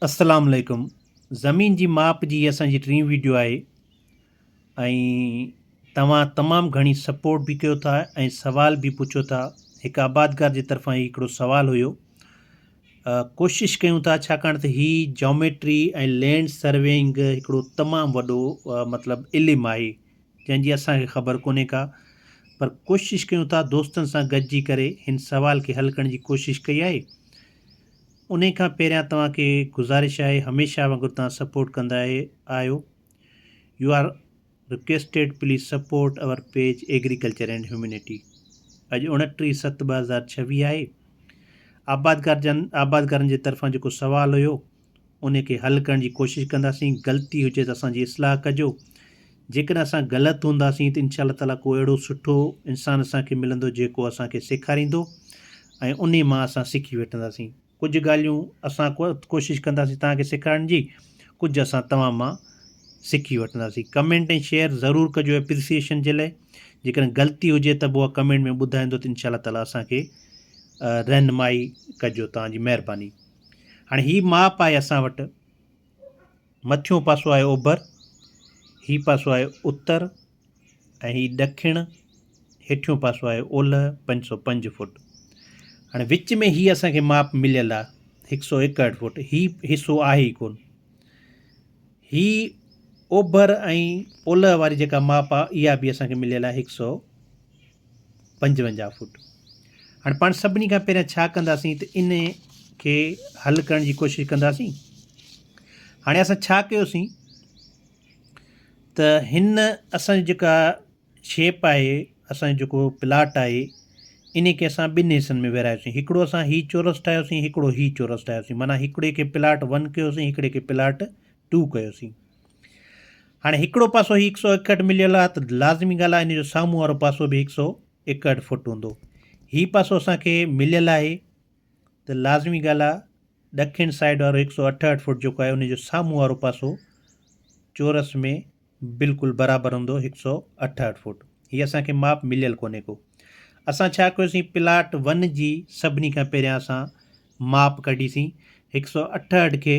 السلام عليڪم زمين جي ماپ جي هي اسان جي ٽين ويڊيو آهي ۽ توهان تمام گهڻي سپورٽ به ڪيو ٿا ۽ سوال به پڇو ٿا هڪ آبادگار جي طرفان هي هڪڙو سوال هيو ڪوشش ڪيون ٿا ڇاڪاڻ ته هي جيوميٽري ۽ لينڊ سروينگ هڪڙو تمام وڏو مطلب علم آهي جنهن جي اسان کي خبر ڪونهي ڪا پر ڪوشش ڪيون ٿا دوستن سان گڏجي ڪري هن سوال کي حل ڪرڻ جي ڪوشش ڪئي آهي انهي کان پهريان توهان کي گذارش آهي هميشه وانگر توهان سپورٽ ڪندا آهيو you are requested please support our page agriculture and humanity اڄ اوڻٽيهه ست ٻه هزار ڇويهه آهي آبادگار جن آبادگارن جي طرفان جيڪو سوال هيو انهي کي حل ڪرڻ جي ڪوشش ڪنداسين غلطي هجي ته اسان جي اصلاح ڪجو جيڪڏهن اسان غلط هونداسين ته انشاء الله تعاليٰ ڪو اهڙو سٺو انسان اسان کي ملندو جيڪو اسان کي سيکاريندو ۽ انهي مان اسان سکي وٺنداسين ڪجهه ڳالهيون اسان ڪوشش ڪنداسين توهان کي سيکارڻ جي ڪجهه اسان توهان مان سکي وٺنداسين ڪمينٽ ۽ شيئر ضرور ڪجو اپريسيئشن جي لاء جيڪڏهن غلطي هجي ته به اها ڪمينٽ ۾ ٻڌائيندو ته انشاء الله تعاليٰ اسان کي رهنمائي ڪجو توهان جي مهرباني هاڻي هي ماپ آهي اسان وٽ مٿيون پاسو آهي اوڀر، هي پاسو آهي اتر ۽ هي ڏکڻ، هيٺيون پاسو آهي اولهه، پنج سؤ پنج فوٽ. هاڻي وچ ۾ هي اسان کي ماپ مليل آهي هڪ سؤ ايڪهٺ فوٽ، هي حصو آهي ئي ڪونه. هي اوڀر ۽ اولهه واري جيڪا ماپ آهي اها به اسان کي مليل آهي هڪ سؤ پنجونجاهه فوٽ. هاڻي پاڻ سڀني کان پهريان ڇا ڪنداسين ته ان کي حل ڪرڻ جي ڪوشش ڪنداسين. هاڻي اسان ڇا ڪيوسين ته هن اسان جي جيڪا شيپ آهي اسان جو جيڪو پلاٽ آهي ان کي اسان ٻن حصن ۾ ورهايوسين هڪڙو اسان هي چورس ٺاهيوسين هڪڙو هي چورس ٺاهيوسين معنيٰ هڪڙي کي پلاٽ ون ڪيوسين هڪڙي کي پلاٽ ٽو ڪيوسين. هاڻي هڪڙو پاسو هي هڪ سؤ ايڪهٺ مليل آهي ته لازمي ڳالهه آهي ان جو سامهون وارو پاسو به هڪ سؤ ايڪهٺ فوٽ هوندو هي پاسو اسان کي مليل آهي ته لازمي ڳالهه آهي ڏکڻ سائيڊ وارو هڪ سؤ اٺهٺ فوٽ جيڪو آهي ان جو سامهون وارو پاسو چورس ۾ بلڪل برابر هوندو هڪ سؤ اٺهٺ فوٽ هي اسان کي ماپ مليل ڪونهي ڪو اسان ڇا ڪيوسين پلاٽ ون جي سڀني کان پهريان اسان ماپ ڪڍيسين هڪ سؤ اٺهٺ کي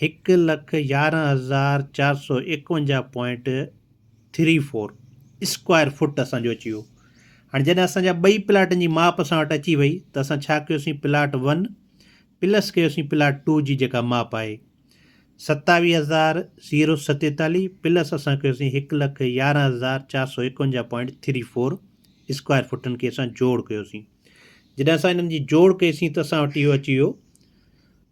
هڪ لک يارهن هزار چار سؤ ايڪونجاهه point three four square feet اسان جو اچي ويو هاڻي جڏهن اسان جا ٻئي پلاٽن جي ماپ اسان وٽ اچي وئي ته اسان ڇا ڪيوسين پلاٽ ون پلس ڪيوسين پلاٽ ٽو جي جيڪا ماپ آهي ستاويهه هزار زيرو ستيتاليهه پلس اسان ڪيوسين هڪ لک يارهن هزار چار سؤ ايڪونجاهه پوائنٽ ٿري فور اسڪوائر فٽن کي اسان جوڙ ڪيوسين جڏهن اسان انهن جي جوڙ ڪيسين ته اسان وٽ اهو اچي ويو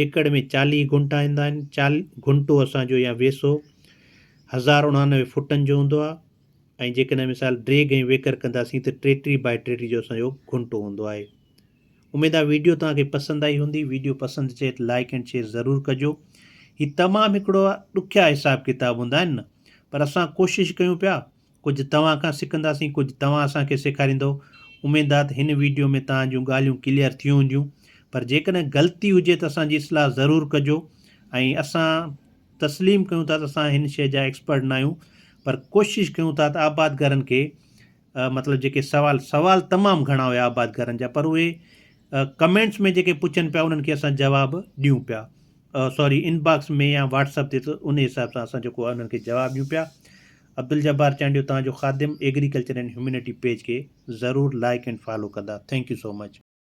ايڪڙ ۾ چاليهه گهنٽا ايندا آهن. گهنٽو اسان جو يا ويسو هزار اڻانوي فوٽن جو هوندو آهي ۽ جيڪڏهن مثال ڊريگ ۽ ويڪر ڪنداسين ته ٽيٽيهه بائي ٽيٽيهه جو اسان جو گهنٽو هوندو آهي. اميد آهي ويڊيو توهان کي پسند آئي هوندي. ويڊيو پسند اچي ته لائيڪ اينڊ شيئر ضرور ڪجو. هي تمام هڪڙو ڏکيا حساب ڪتاب هوندا آهن نه پر اسان ڪوشش ڪيون پيا ڪجهه توهان کان سکنداسين ڪجهه توهان اسان کي سيکاريندؤ اميد آ ته هن ويڊيو ۾ توهان جون ڳالهيون ڪليئر ٿيون هونديون پر جيڪڏهن غلطي هجي ته اسان جي اصلاح ضرور ڪجو ۽ اسان تسليم ڪيون ٿا ته اسان هن شيء جا ايڪسپرٽ نه آهيون پر ڪوشش ڪيون ٿا ته آباد گهرن کي مطلب جيڪي سوال سوال تمام گهڻا هيا آباد گهرن جا پر اهي ڪمينٽس ۾ جيڪي پڇن پيا انهن کي اسان جواب ڏيون پيا سوري انباڪس ۾ يا واٽس اپ تي ته ان حساب سان اسان جيڪو انهن کي جواب ڏيون پيا عبدالجبار چانڊيو توهان جو خادم ايگريڪلچر اينڊ هيومينٽي پيج کي ضرور لائيڪ اينڊ فالو ڪندا ٿينڪ يو سو مچ.